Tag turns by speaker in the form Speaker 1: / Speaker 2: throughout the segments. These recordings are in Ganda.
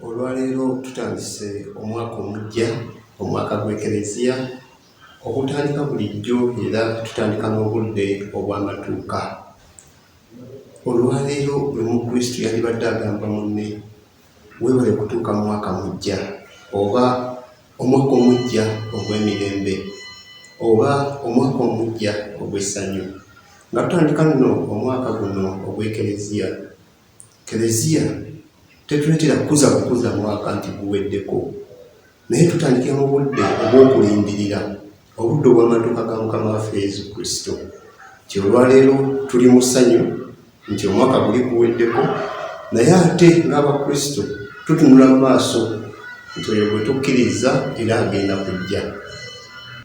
Speaker 1: olwaleero tutandise omwaka omujja omwaka gw'ekereziya okutandika bulijjo era tutandika n'obudde obw'amatuuka olwaleero buli mukristu yalibadde agamba munne Webale kutuuka mwaka mujja oba omwaka omujja ogw'emirembe oba omwaka omujja ogw'essanyu nga tutandika nno omwaka guno ogw'ekereziya. Kereziya tetuleetera kukuza bukuza mwaka nti guweddeko. Naye tutandike mu budde obw'okulindirira, obudde obw'amatuuka ga Mukama waffe Yesu Kristo. Nti olwaleero tuli mu ssanyu nti omwaka guli guweddeko, naye ate ng'Abakristo tutunula mu maaso nti oyo gwe tukkiriza era agenda kujja.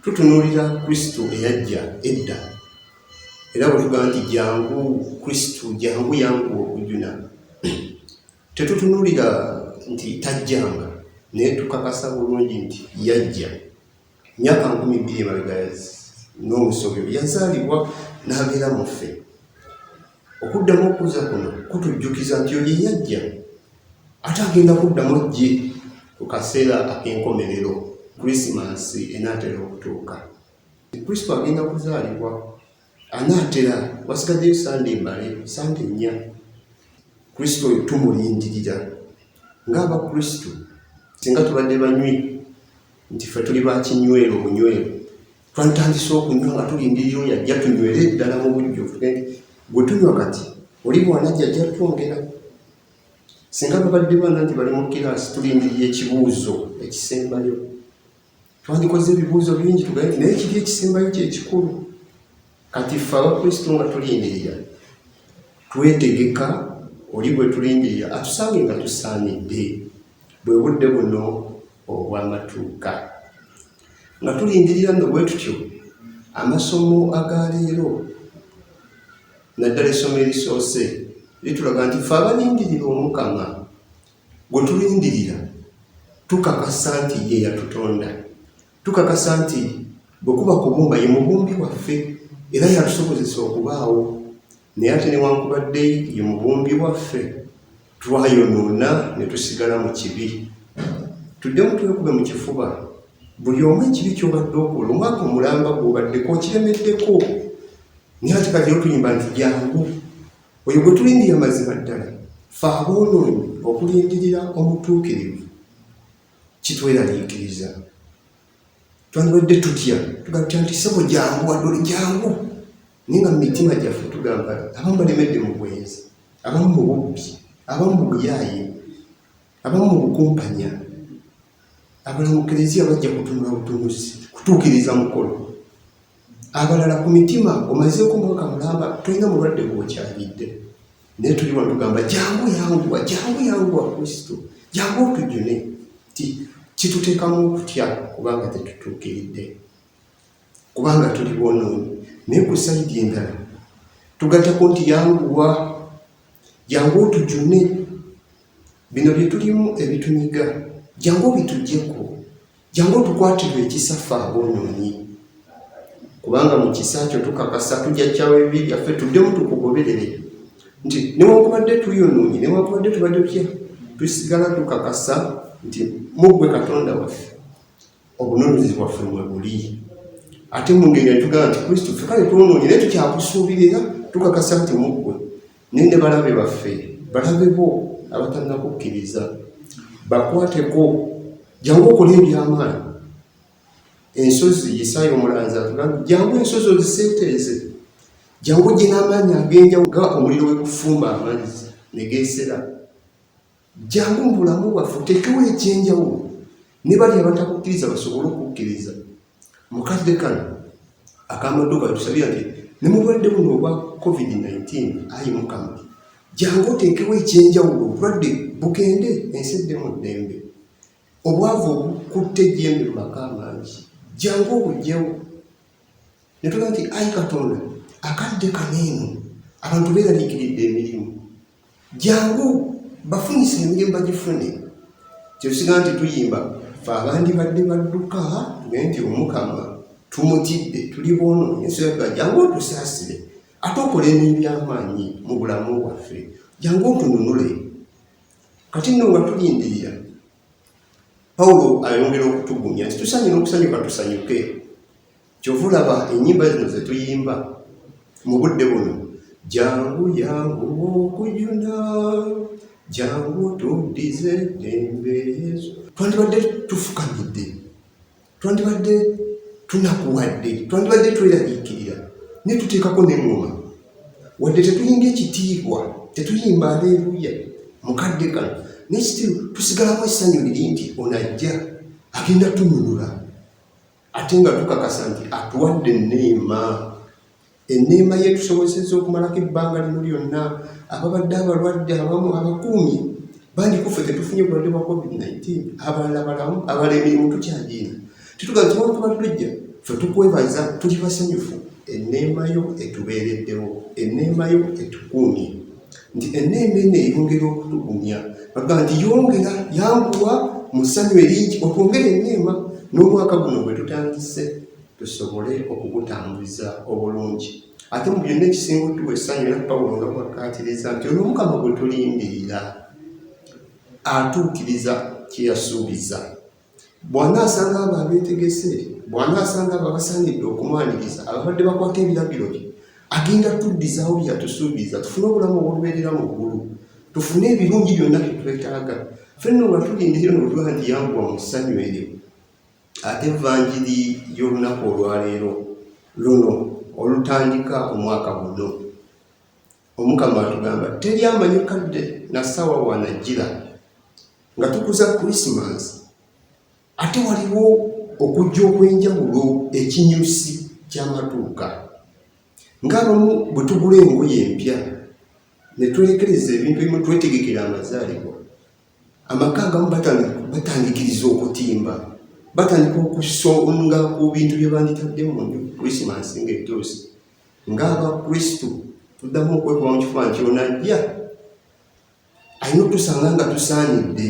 Speaker 1: Tutunuulira Kristo eyajja edda, era bwe tugamba nti jangu Kristo, jangu yanguwa okujuna, Tetutunulira nti tajjanga naye tukakasa bulungi nti yajja myaka nkumi bbiri emabega n'omusobyo yazaalibwa n'abeera mu ffe okuddamu okuza kuno kutujjukiza nti oyo yajja ate agenda kuddamu jje ku kaseera ak'enkomerero krisimansi enaatera okutuuka kristo agenda kuzaalibwa anaatera wasigaddeyo sande embale sande nnya kristo oyo tumulindirira ng'abakristo singa tubadde banywi nti ffe tuli bakinywero obunywero twantandise okunywa nga tulindirira oyo ajja tunywere eddala mu bujjuvu eh, gwe tunywa kati oli bwanajja ajja twongera singa babadde bana nti bali mu kiraasi tulindirira ekibuuzo ekisembayo twandikoze ebibuuzo bingi tugaye nti naye kiri ekisembayo kyekikulu kati ffe abakristo nga tulindirira twetegeka oli bwe tulindirira atusange nga tusaanidde bwe budde buno obw'amatuuka nga tulindirira no bwe tutyo amasomo agaleero naddala essomo erisoose litulaga nti fe abalindirira omukama Gwe tulindirira, tukakasa nti ye yatutonda. Tukakasa nti bwe kuba kubumba ye mubumbi waffe era yatusobozesa okubaawo. Naye ate newankubadde ye mubumbi waffe, twayonoona ne tusigala mu kibi. Tuddemu twekube mu kifuba buli omu ekibi ky'obadde okola omwaka omulamba gw'obaddeko okiremeddeko, naye ate kati otuyimba nti jangu Oyo gwe tulindira mazima ddala fe aboonoonyi okulindirira omutuukirivu kitweraliikiriza. Twandibadde tutya tugamba tutya nti sebo jangu wadde oli jangu naye nga mu mitima gyaffe tugamba abamu balemedde mu bwenzi abamu mu bubbi abamu mu buyaaye Abamu mu bukumpanya abalala mu kereziya bajja kutunula butunuzi kutuukiriza mukolo, abalala ku mitima omazeeko mwaka mulamba tolina mulwadde gwokyalidde, naye tuli wano tugamba jangu yanguwa, jangu yanguwa Kristo, jangu otujune ti kituteekamu okutya kubanga tetutuukiridde, kubanga tuli bwonoonyi. Naye ku sayidi endala tugatako nti yanguwa, jangu otujune. Bino bye tulimu ebitunyiga, jangu obitugyeko, jangu otukwatirwe ekisa ffe aboonoonyi. Kubanga mu kisa kyo tukakasa tujja kyawa ebibi byaffe tuddemu tukugoberere nti newankubadde tuyonoonye newankubadde tubadde tutya tusigala tukakasa nti muggwe katonda waffe obunoonyezi bwaffe mwe buli ate mu ngeri netugamba nti kristo ffe kale twonoonye naye tukyakusuubira era tukakasa nti muggwe naye ne balabe baffe balabe bo abatannakukkiriza bakwateko jangu okola ebyamaanyi ensozi isaaya omulanzi atugamba jangu ensozi oziseeteeze jangu gye n'amaanyi ag'enjawulo ga omuliro we gufumba amazzi ne geesera Jjangu mu bulamu bwaffe oteekewo ekyenjawulo ne bali abatakukkiriza basobole okukkiriza. Mu kadde kano ak'amaduuka tusabira nti ne mu bulwadde buno obwa COVID-19 ayi Mukama jjangu oteekewo ekyenjawulo obulwadde bugende ensi edde mu ddembe obwavu obukutte ejjembe mu maka amangi jjangu obugyewo ne tuga nti ayi Katonda akadde kano eno abantu beeraliikiridde emirimu jangu bafunyisa emirimu bagifune kyosiga nti tuyimba fe abandibadde badduka tuge nti omukama tumutidde tuli bono ensoyaga jangu otusaasire ate okola enebyamaanyi mu bulamu bwaffe jangu otununule kati nno nga tulindirira pawulo ayongera okutugumya nti tusanyira okusanyuka tusanyuke Kyova olaba enyimba zino zetuyimba mu budde buno, jangu yangu okujuna, jangu tuddize dembe Yesu. Twandibadde tufukamidde, twandibadde tunakuwadde, twandibadde tweraliikirira, naye tuteekako n'engoma. Wadde tetuyinga ekitiibwa, tetuyimba aleeruya mukadde kano, naye sitiru tusigalamu essanyu liri nti onajja agenda tununula ate nga tukakasa nti atuwadde enneema enneema ye tusobozesa okumalako ebbanga lino lyonna ababadde abalwadde abamu abakuumi bangi kuffe tetufunye bulwadde bwa covid-19 abalala balamu abala emirimu tukyagiina tituga nti wali tubadde tujja fe tukwebaza tuli basanyufu enneema yo etubeereddewo enneema yo etukuumye nti enneema eno eyongera okutugumya aga nti yongera yanguwa mu ssanyu eringi okwongera enneema n'omwaka guno gwe tutandise tusobole okugutambuza obulungi ate mu byonna ekisinga otuwa essanyu era pawulo nga bwakkaatiriza nti ono omukama gwe tulindirira atuukiriza kye yasuubiza Bw'anaasanga abo abeetegese, bw'anaasanga abo abasaanidde okumwaniriza, ababadde bakwata ebiragiro bye, agenda kutuddizaawo bye yatusuubiza, tufune obulamu obulubeerera mu ggulu, tufune ebirungi byonna bye twetaaga. Ffe nno nga tulindirira no bwe nti yanguwa mu ssanyu eryo. Ate evanjiri y'olunaku olwaleero luno olutandika omwaka guno. Omukama atugamba teri amanyi kadde na ssaawa wanajjira nga tukuza krisimansi ate waliwo okujja okw'enjawulo ekinyusi ky'amatuuka ng'abamu bwe tugula engoye empya ne twerekereza ebintu ebimu twetegekera amazaalibwa amaka agamu batandikiriza okutimba batandika okusonga ku bintu bye banditadde mu nju krisimansi ng'etuusi ng'abakristu tuddamu okwekuba mu kifaanyi kyona ajja alina otusanga nga tusaanidde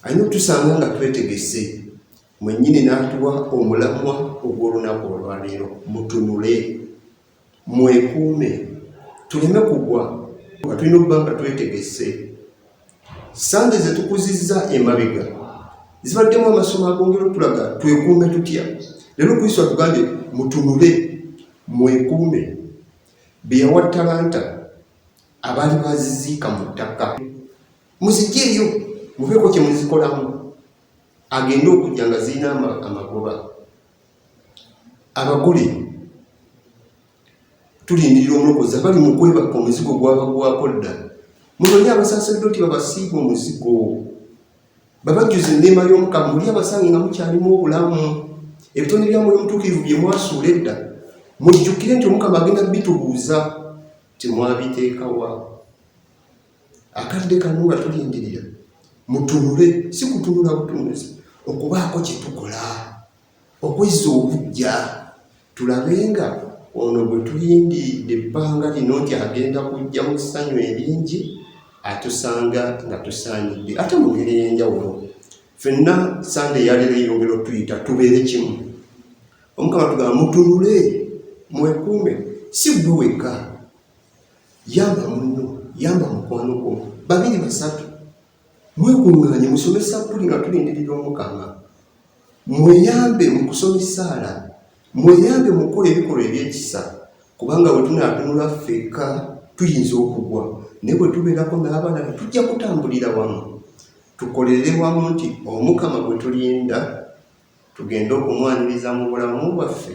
Speaker 1: alina otusanga nga twetegese mwennyini n'atuwa omulamwa ogw'olunaku olwaleero mutunule mwekuume tuleme kugwa nga tulina okuba nga twetegese Sande ze tukuzizza emabega zibaddemu amasomo agongera okulaga twekuume tutya. Leero Kristo atugambye mutunule, mwekuume. Be yawa talanta abaali baziziika mu ttaka muzigyeyo, mubeeko kye muzikolamu. Agende okujja nga zirina amagoba abagule tulindirira omulokozi abali mu kwebaka omuzigo gwabagwako dda munonye abasaseddoti babasiiga omuzigo babajjuza enneema y'omukama muli abasange nga mukyalimu obulamu ebitonde bya mwoyo omutuukirivu bye mwasuula edda mujjukire nti omukama agenda bitubuuza temwabiteekawa akadde kano nga tulindirira mutunule si kutunula butunuzi okubaako kye tukola Okwezza okuggya tulabe nga ono bwe tulindiidde ebbanga lino nti agenda kujja mu ssanyu eringi atusanga nga tusaanidde ate mu ngeri ey'enjawulo fenna sande yalero eyongera otuyita tubeere kimu omukama tugamba mutunule mwekuume si gwe wekka yamba munno yamba mukwano gwo babiri basatu Mwekuŋŋaanye musome Sabbuli nga tulindirira Omukama. Mweyambe mu kusoma essaala. Mweyambe mu kukola ebikolwa eby'ekisa, kubanga bwe tunaatunula ffekka tuyinza okugwa, naye bwe tubeerako n'abalala tujja kutambulira wamu. Tukolere wamu nti Omukama gwe tulinda tugende okumwaniriza mu bulamu bwaffe